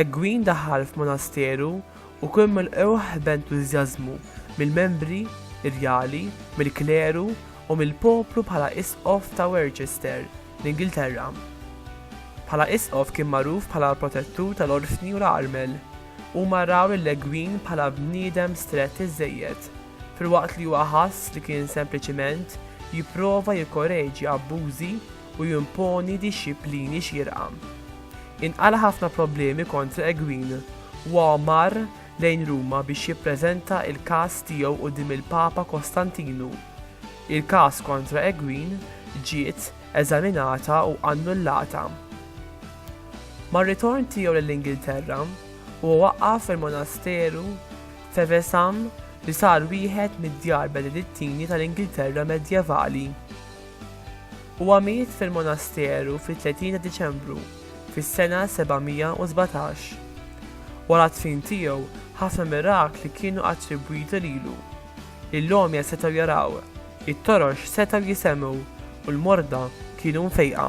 Egwin daħal f'monasteru u kien milqugħ b'entużjażmu mill-membri rjali, mill-kleru u mill-poplu bħala isqof ta' Worcester, l-Ingilterra. Bħala isqof kien magħruf bħala l-protettur tal-orfni u l-armel. Huma raw lil Egwin bħala bniedem strett iżżejjed, filwaqt li huwa ħass li kien sempliċiment jipprova jikkoreġi abbużi u jimponi dixxiplini xierqa. Inqala' ħafna problemi kontra Egwin wa mar lejn Ruma biex jippreżenta il-każ tiegħu quddiem il-Papa Kostantinu. Il-każ kontra Egwin ġiet eżaminata u annullata. Mar-ritorn tiegħu lill-Ingilterra, huwa waqqaf il-monasteru f'Evesham li sar wieħed mid-djar benedittini tal-Ingilterra medjevali. Huwa miet fil-monasteru fit-30 ta' Diċembru, fis-sena 717. Wara d-dfin tiegħu, ħafna mirakli kienu attribwiti lilu. Lill-għomja setgħu jaraw, it-torox setgħu jisemmgħu, u l-morda kienu mfejqa.